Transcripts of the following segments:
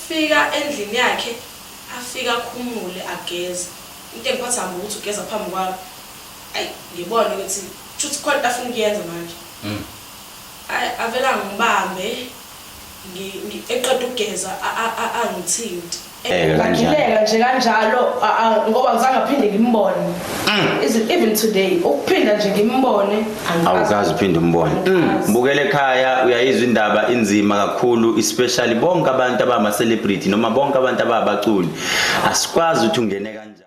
Fika endlini yakhe afike akhumule ageze into engiphatha hambi ukuthi ugeza phambi kwami ayi ngibone ukuthi shuthi khona into afuna ukuyenza manje mm. ayi avela ngibambe eqeda ukugeza angithinti eh, ngagileka nje kanjalo ngoba ngizangaphinde ngimbone is it even today ukuphinda nje ngimbone awukazi uphinde umbone mbukele ekhaya uyayizwa indaba inzima kakhulu especially bonke abantu abama celebrity noma bonke abantu ababaculi asikwazi ukuthi ungene kanjani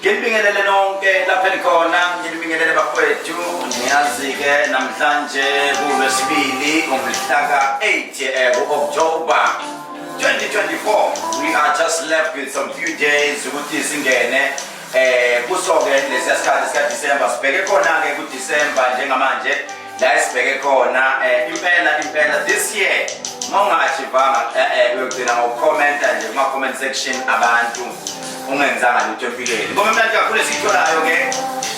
Nginibingelele nonke lapha elikhona, nginibingelele bafowethu. Ngiyazi-ke namhlanje kuLwesibili ngomhlaka 8 eh, ku-October 2024. We are just left with some few days ukuthi singene eh kuso-ke lesiya sikhathi sikaDisemba sibheke khona-ke kuDisemba njengamanje la esibheke khona eh, impela impela this year mawungashivanga eh, eh, uyogcina ngokukhomenta nje kuma-comment section abantu ungenzanga lutho empilweni ngoba imnandi kakhulu esiyitholayo ke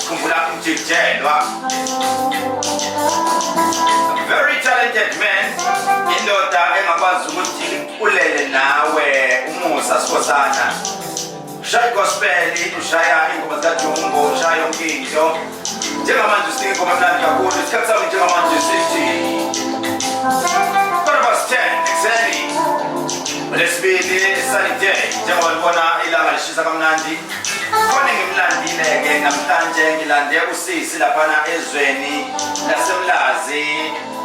khumbula umjijelwa very talented man indoda engakwazi ukuthi ulele nawe umusa sikhosana Shaya gospeli, shaya ingoma zikajumbo, shaya yonke into. Njengamanje singoma mnandi kakhulu, isikhathi sami njengamanje sithi. Quarter past 10, exactly. Lesibili, sunny day, njengoba libona ilanga lishisa kamnandi. Khona ngimlandile-ke namhlanje ngilande usisi laphana ezweni lasemlazi.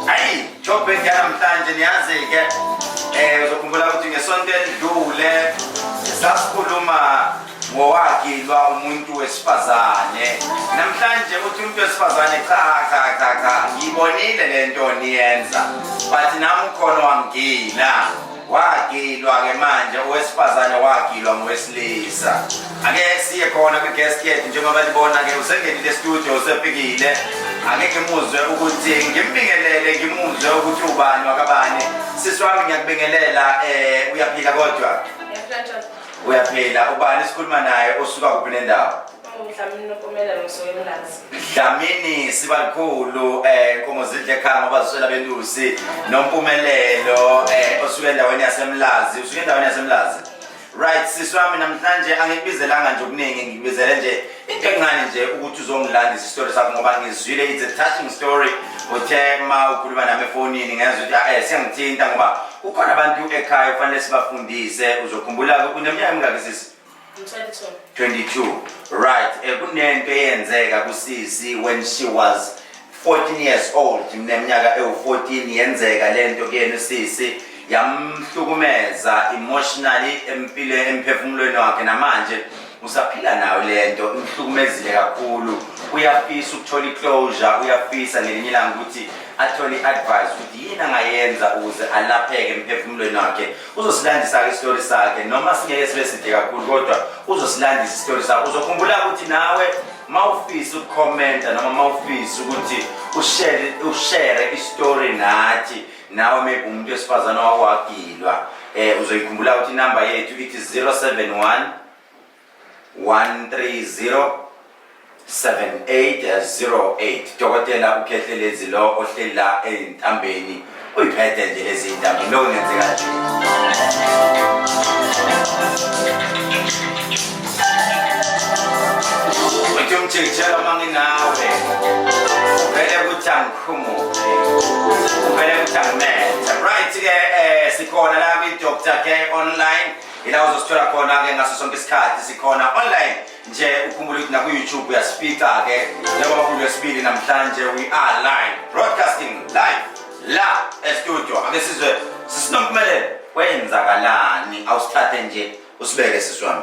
Ayi! Job yanamhlanje niyazi-ke um uzokhumbula ukuthi ngesonto elidlule sasikhuluma ngowagilwa umuntu wesifazane namhlanje ukuthi umuntu wesifazane cha cha cha cha ngiyibonile le nto niyenza but nami ukhona wangigila wagilwa-ke manje owesifazane wagilwa ngowesilisa ake siye khona kwi-guest yethu njengoba libona-ke usengenile studio usefikile ake ngimuzwe ukuthi ngimbingelele ngimuzwe ukuthi ubani wakabani sisi wami ngiyakubingelela um uyaphila kodwa uyaphila ubani sikhuluma naye osuka kuphi nendawo Dlamini sibalikhulu eh inkomo zidle ekhaya ngoba ziswela belusi nompumelelo eh osuke endaweni yasemlazi usuke endaweni yasemlazi right sisi wami namhlanje angikubizelanga nje okuningi ngikubizele nje into encane nje ukuthi uzongilandisa isitori sakho ngoba ngizwile it's a touching story uthe ma ukhuluma nami efonini ngezwa ukuthi ah, eh siyangithinta ngoba kukhona abantu ekhaya kufanele sibafundise uzokhumbula-ke uneminyaka emingaki sisi 22 right eh kunento eyenzeka kusisi when she was 14 years old mneminyaka ewu14 yenzeka lento kuyena usisi yamhlukumeza emotionally empile emphefumulweni wakhe namanje usaphila nayo lento imhlukumezile kakhulu uyafisa ukuthola iclosure uyafisa ngelinye ilanga ukuthi athole i-advice ukuthi yini angayenza ukuze alapheke emphefumulweni wakhe uzosilandisa-ke isitori sakhe noma singeke sibe side kakhulu kodwa uzosilandisa isitori sakhe uzokhumbula ukuthi nawe ma ufisa ukukhomenta noma ma ufisa ukuthi ushere isitori nathi nawe maybe umuntu wesifazane wawagilwa um eh, uzoyikhumbula ukuthi inamba yethu ithi 071 1307808 dokotela ukhehlelezi lo ohleli la eyintambeni uyiphethe nje lezi yintambo lokho ngenzeka nje uthi umjikijela uma nginawe uvele ukuthi angikhumuke uvele ukuthi angimethe right-ke um sikhona la kwi-doctor k online ila uzosithola khona-ke ngaso sonke isikhathi sikhona online nje ukhumbule ukuthi naku-youtube uyasifica-ke njengoba kulu yesibili namhlanje we are live broadcasting live la estudio ake sizwe sisinompumelelo kwenzakalani awusithathe nje usibeke siswami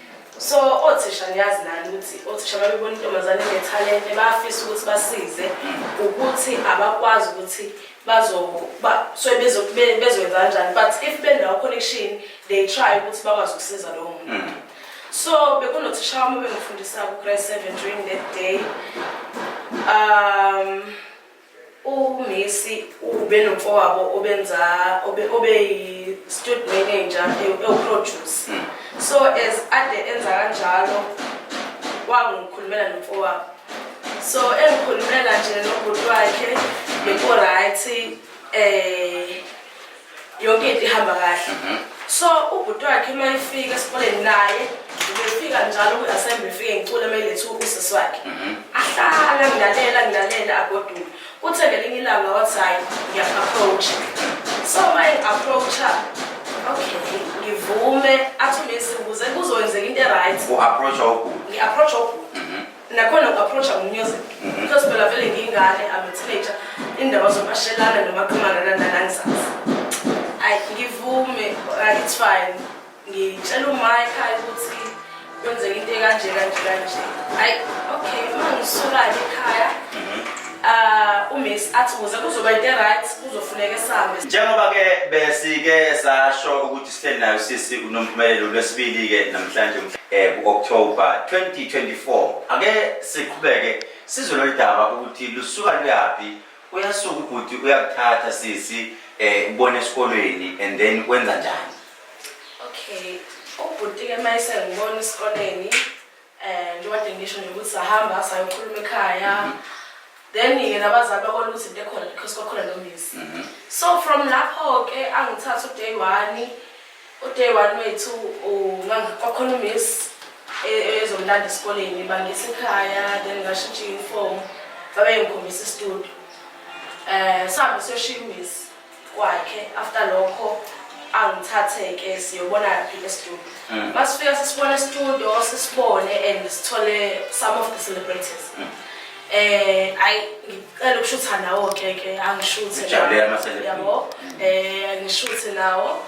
so othisha niyazi nani ukuthi othisha babebona intombazane ngethalente bayafisa ukuthi basize ukuthi abakwazi ukuthi bazosuke bezoyenza kanjani but if benawo connection they try ukuthi bakwazi ukusiza lowo muntu mm. so bekunothisha wami obengifundisa ku-grade seven during that day um UMissi ubenomfowabo obenza obeyi-stud manager ewuproduce. Hmm. So as ade enza kanjalo wangikhulumela nomfowabo. So engikhulumela nje nobhuti wakhe beko-right um yonke into ihamba kahle mhm. so ubhuti wakhe uma efika esikoleni naye ubefika njalo kwi-assembly efike ngicule uma elethe usisi wakhe mhm. ahlala ngilalela ngilalela agoduke kuthe ngelinye ilanga wathi hhayi ngiyaku-approacha so uma engi-approacha okay ngivume athi umesibuze kuzokwenzeka into e-right ngi-approacha ubhuti nakhona uku-approacha ngomusic mhm. because phela vele ngiyingane am a teenager indaba zomashelana nomaqhumana nananangizazi ayi ngivume it's fine ngitshela umaye ekhaya ukuthi kwenzeka into ekanje kanje kanje ayi okay uma ngisukake ekhaya uh uMiss athi kuze kuzoba into right kuzofuneka esambe njengoba ke besike sasho ukuthi Sihleli nayo sisi uNompumelelo lwesibili-ke namhlanje um eh, ku-October 2024. Ake siqhubeke sizwe lolu daba ukuthi lusuka luyaphi. Uyasuka ubhuti uyakuthatha sisi um ubona esikolweni and then wenza njani? Okay, ubhuti-ke uma esengibona esikoleni Eh, njengoba nje ngisho nje ukuthi sahamba sayokhuluma ekhaya then-ke nabazali bakona ukuthi into ekhona because kwakhona nomisi Mhm. so from lapho-ke angithatha uday one uday one wethu u- ngangi- kwakhona umiss e- ezomlanda esikoleni bangisa ekhaya then ngashintsha i-uniform babengikhombisa istudio um sihambe siyoshiya umiss kwakhe after lokho angithathe-ke siyobona phile studio mm. masifika sisibone studio sisibone and sithole some of the celebrities mm. eh ayi ngicela ukushutha nawo ke ke angishuthe yabo mm. eh ngishuthe nawo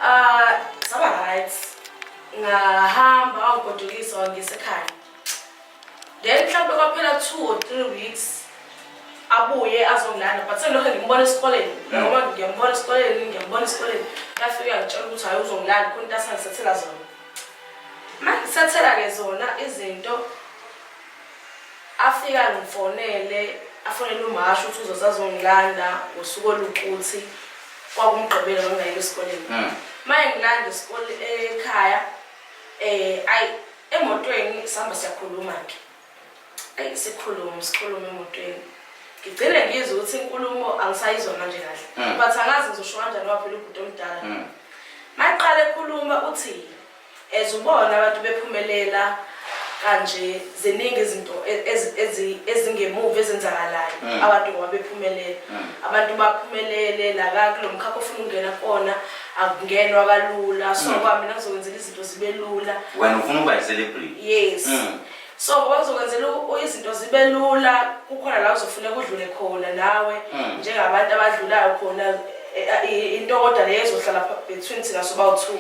ah saba right ngahamba wangigodukisa wangisekhaya then mhlawumbe kwaphela two or three weeks abuye azongilanda but sengiloke ngimbona esikoleni noma mm. ngiyambona esikoleni ngiyambona esikoleni yafike yangitshela ukuthi hhayi uzongilanda khona into asangisethela zona ma ngisethela-ke zona izinto afika ngifonele afonele umasho ukuthi uzozazongilanda ngosuku olukuthi kwakumgqibela ngangingayile esikoleni mm. ma engilanda ekhaya um eh, ayi emotweni sihamba siyakhuluma-ke ayi sikhulume sikhulume emotweni ngigcine ngizwe ukuthi inkulumo angisayizwa manje kahle mm. but angazi ngizosho kanjani ngoba phela ubhuti omdala mm. maqala ekhuluma uthi as ubona abantu bephumelela kanje ziningi izinto e-, ezingemuva ezenzakalayo mm. abantu ngoba bephumelela abantu baphumelele la kulo mkhakha ofuna ukungena kona akungenwa kalula so kwamina kuzokwenzela izinto zibe lula wena ufuna ukuba yi-celebrity yes mm. so ngoba kuzokwenzela izinto zibe lula kukhona la uzofuneka udlule khona nawe mm. njengabantu abadlulayo khona e, e, e, into kodwa leyo ezohlala between thina sobawu-two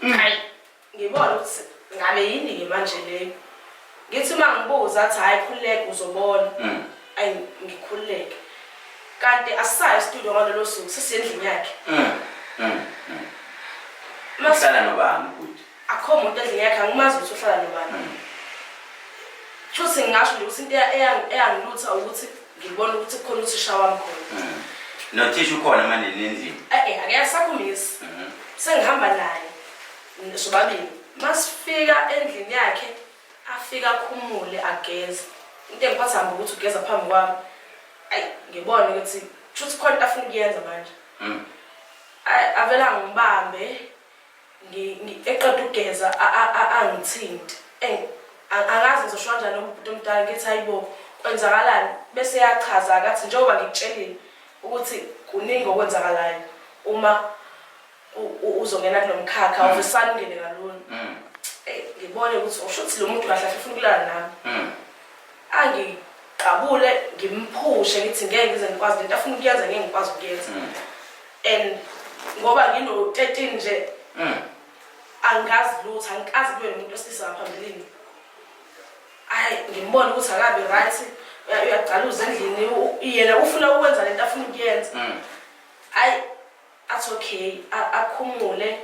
mm. hayi ngibona ukuthi ngabe yini-ke manje leyo Ngithi uma ngibuza athi hhayi khululeka uzobona. Mm. Ayi ngikhululeke. Kanti asisayo studio ngalolo suku sisendlini yakhe. Mm. Mm. Mm. Uhlala nobani ubhuti? Akho muntu endlini yakhe angimazi ukuthi uhlala nobani. Mm. Shuthi ngingasho nje ukuthi into eyangilutha ukuthi ngibona ukuthi kukhona uthisha wami khona. Mm. Nothisha ukhona manje nendlini? Eh eh akekho sakumisi. Mm. Sengihamba naye. sobabili masifika endlini yakhe afike akhumule ageze into engiphatha hamba ukuthi ugeza phambi kwami ayi ngibone ukuthi shuthi khona into afuna ukuyenza manje mm. avela ngibambe eqeda ukugeza angithinti angazi ngizosho kanjani umuntu omdala ngithi hayibo kwenzakalani bese yachaza kathi njengoba ngikutshelile ukuthi kuningi okwenzakalayo uma uzongena kulomkhakha mm. ufisana ungene kalula mm. eh, ngibone ukuthi usho ukuthi lo muntu kahle afuna ukulala nami mm. angiqabule ngimphushe ngithi ngeke ngize ngikwazi lento afuna ukuyenza ngeke ngikwazi ukuyenza and ngoba ngino 13 nje angazi lutho angikazi kube nomuntu osilisa ngaphambilini ayi ngimbone ukuthi akabi right uyagcaluza endlini yena ufuna ukwenza lento afuna ukuyenza ayi athi okay a- akhumule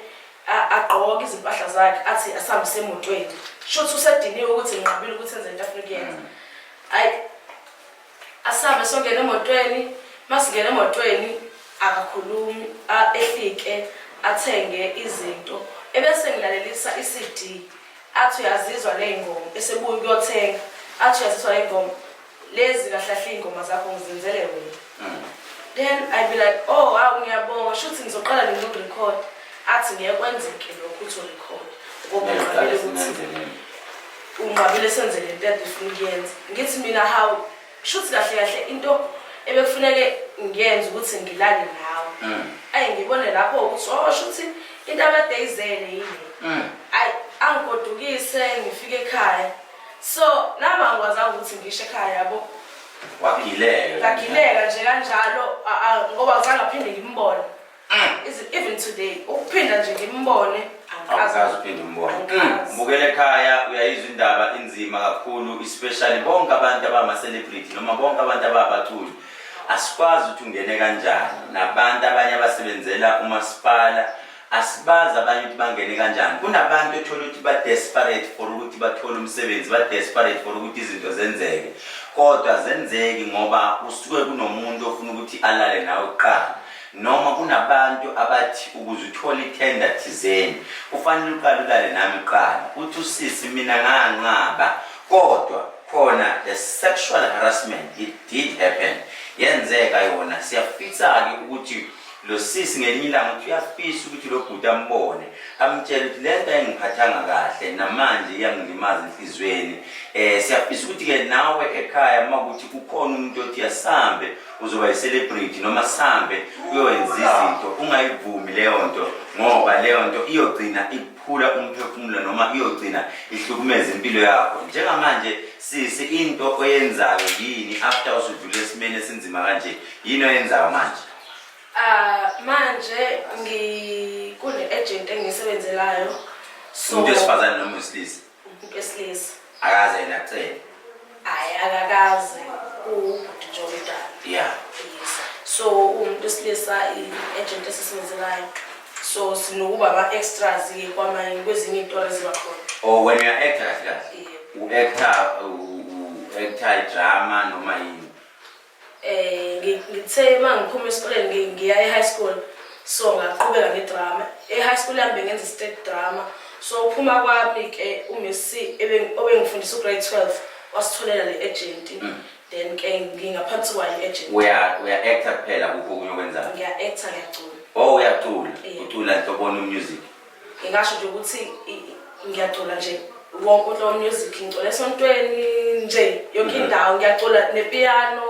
a- agqoke izimpahla zakhe athi asihambise emotweni shuthi usediniwe ukuthi nginqabile ukuthi enze into afuna ukuyenza ayi asihambe songena emotweni masingena emotweni akakhulumi a- ehlike athenge izinto ebese ngilalelisa i-cd athi uyazizwa ley'ngoma esebuye ukuyothenga athi uyazizwa ley'ngoma lezi kahlahle iy'ngoma zakho ngizenzele wena mm. then i be like oh hawu ngiyabonga shuthi ngizoqala nini ukurekhod athi ngeke kwenzeke lokho uthi urekhod ngoba unqabile ukuthi unqabile senze le nto ade ufuna ukuyenza ngithi mina hawu shuthi kahle kahle into ebekufuneke ngiyenze ukuthi ngilale nawe mm. ayi ngibone lapho ukuthi oh shuthi into abadeyizele yini mm. ayi angigodukise ngifike ekhaya so nami angikwazanga ukuthi ngisho ekhaya yabo wagileka ngagileka nje kanjalo a- a- ngoba ngizange aphinde ngimbone Mm. Is- even today ukuphinda nje ngimbone angikaze awukazi uphinde umbone Angikaze. mbukele ekhaya uyayizwa indaba inzima kakhulu especially bonke abantu abama-celebrity noma bonke abantu ababaculi asikwazi ukuthi ungene kanjani nabantu abanye abasebenzela umasipala asibazi abanye ukuthi bangene kanjani kunabantu ethola ukuthi ba-desperate for ukuthi bathole umsebenzi ba-desperate for ukuthi izinto zenzeke kodwa zenzeki ngoba usuke kunomuntu ofuna ukuthi alale nawe kuqala noma kunabantu abathi ukuze uthole ithenda thizeni kufanele uqale ulale nami kuqala uthi usisi mina nganqaba kodwa khona the sexual harassment it did happen yenzeka yona siyafisa-ke ukuthi lo sisi ngelinye ilanga ukuthi uyafisa ukuthi lo bhuti ambone amtshele ukuthi le nto ayingiphathanga kahle namanje iyangilimaza enhliziyweni um eh, siyafisa ukuthi-ke nawe ekhaya uma kuthi kukhona umuntu othi asambe uzoba yi-celebrity noma sambe uyowenza izinto ungayivumi leyo nto ngoba leyo nto iyogcina ikuphula umphefumulo noma iyogcina ihlukumeza impilo yakho njengamanje sisi into oyenzayo yini after usudlule esimeni esinzima kanje yini oyenzayo manje Ah manje ngikune agent engisebenzelayo. So umuntu esifazane noma wesilisa? Umuntu wesilisa. Akaze yena acele. Hayi akakaze ubhuti nje omdala. Yeah. Yes. So umuntu wesilisa i-agent esisebenzelayo. So sinokuba ama-extras ke kwamanye kwezinye iy'ntori eziba khona. Oh when you are actors kahle. U-actor u-actor idrama noma yini. Eh ngithe uma ngiphuma esikoleni ngiya e-high school so ngaqhubeka ngedrama. E-high school yami bengenza i-state drama. So uphuma kwami ke uMC obengifundisa ugrade 12 wasitholela le agent. Mm. Then ke ngingaphansi kwayo agent. Uya uya actor kuphela kuphi okunye okwenzayo? Ngiya actor ngiyacula. Oh uyacula. Ucula nhloboni music? ngingasho nje ukuthi ngiyacula nje wonke umuntu omusic ngicula esontweni nje yonke mhm. indawo ngiyacula nepiano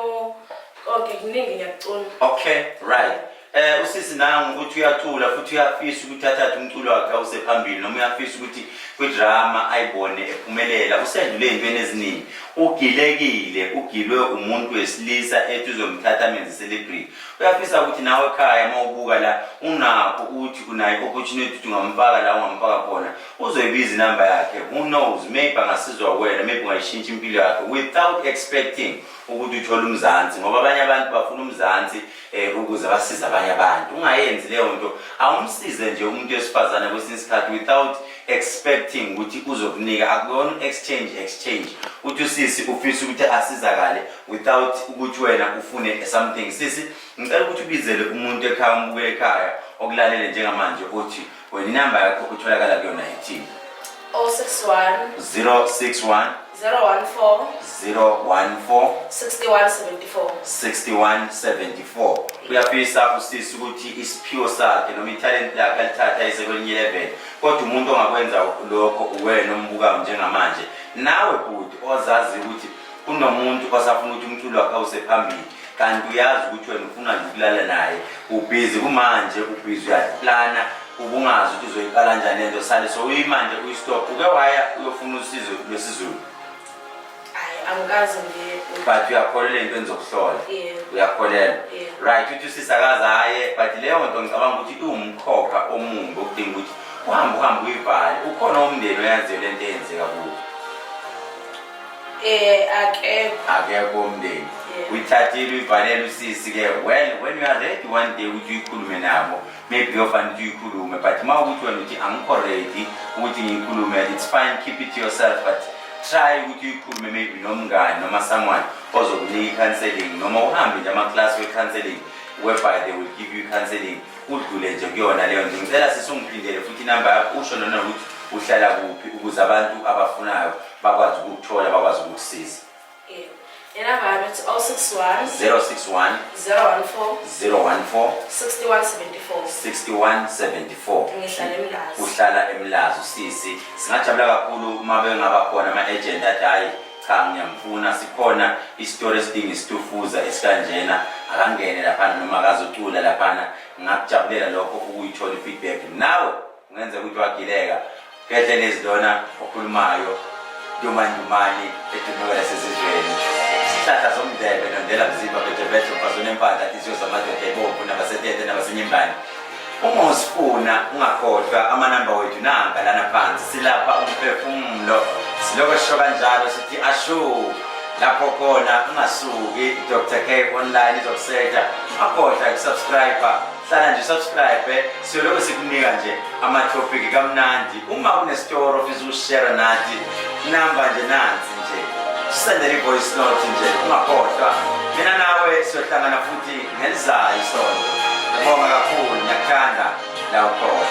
konke kuningi ngiyakucula okay right eh usisi nangu ukuthi uyacula futhi uyafisa ukuthi athathe umculo wakhe awuse phambili noma uyafisa ukuthi kwidrama ayibone ephumelela usendule ezintweni eziningi ugilekile ugilwe umuntu wesilisa ethi uzomthatha amenze celebrity uyafisa ukuthi nawe ekhaya uma ubuka la unakho ukuthi kunayo i-opportunity ukuthi ungamfaka la ungamfaka khona uzoyibiza inamba yakhe who knows maybe angasizwa wena maybe ungayishintsha impilo yakhe without expecting ukuthi uthole umzansi ngoba abanye abantu bafuna umzansi um ukuze basize abanye abantu ungayenzi leyo nto awumsize nje umuntu wesifazane kwesinye isikhathi without expecting ukuthi uzokunika akuyona exchange exchange uthi usisi ufisa ukuthi asizakale without ukuthi wena ufune something sisi ngicela ukuthi ubizele umuntu ekhaya umbuke ekhaya okulalele njengamanje uthi wena inamba yakho utholakala kuyona yithini 061 061 014 014 6174 6174 uyafisa usisi ukuthi isiphiwo sakhe noma ithalenti lakhe alithatha ise kwelinye level kodwa umuntu ongakwenza lokho uwena ombukayo njengamanje nawe bhuti ozazi ukuthi kunomuntu osafuna ukuthi umculo wakhe awuse phambili kanti uyazi ukuthi wena ufuna nje ukulala naye ubhizi kumanje ubhizi uyaplana ubungazi ukuthi uzoyiqala njani lento sale so uyimanje uyistop uke waya uyofuna usizo lwesizulu angikaze ngiye but uyakholelwa into engizokuhlola uyakholelwa right uthi usisi akaze aye but leyo nto ngicabanga ukuthi iwumkhokha omumbi okudinga ukuthi uhambe uhambe uyivale ukhona umndeni oyaziyo le nto eyenzeka kuwo Eh akekho. Akekho umndeni. Uyithathile uyivalele usisi ke well when you are ready one day ukuthi uyikhulume nabo maybe uyofanele ukuthi uyikhulume but uma ukuthi wena uthi angikho ready ukuthi ngiyikhulume it's fine keep it to yourself but try ukuthi uyikhulume maybe nomngani noma someone ozokunika i-counseling noma uhambe nje amaklasi we-counseling whereby they will give you counseling udlule nje kuyona leyo nje ngicela sisi ungiphindele futhi inamba yakho usho nona ukuthi uhlala kuphi ukuze abantu abafunayo bakwazi ukukuthola bakwazi ukukusiza Yeah. Inamba yami it's 061 061 014 014 6174. 6174 Ngihlala eMlazi. uhlala emlazi usisi singajabula kakhulu uma bengaba khona ama-agent athi hhayi cha ngiyamfuna sikhona isitori esidinga isitufuza esikanjena akangene laphana noma akazocula laphana ngingakujabulela lokho ukuyithola i-feedback nawe Kungenzeka ukuthi wagileka ngedle nezilona okhulumayo ndumandumane edumeka yasezizweni isihlahla somndebe nondela mzimba bhejebheje umfazi onempandla insiyo zamadoda ebomvu nabasetete nabasenyimbane uma usifuna ungakhohlwa amanamba wethu nanga lana phansi silapha umphefumulo silokho sisho kanjalo sithi ashu lapho khona ungasuki dr k online izokusetha akhohlwa kusubscribe hlala nje subscribe eh? siyoloko sikunika nje amathophiki kamnandi uma kunestoro ofisa ukushare nathi namba nje nansi nje sisendele i-voice note nje ungakhohlwa mina nawe siyohlangana futhi ngelizayo isonto ngibonga kakhulu ngiyakuthanda la ukhona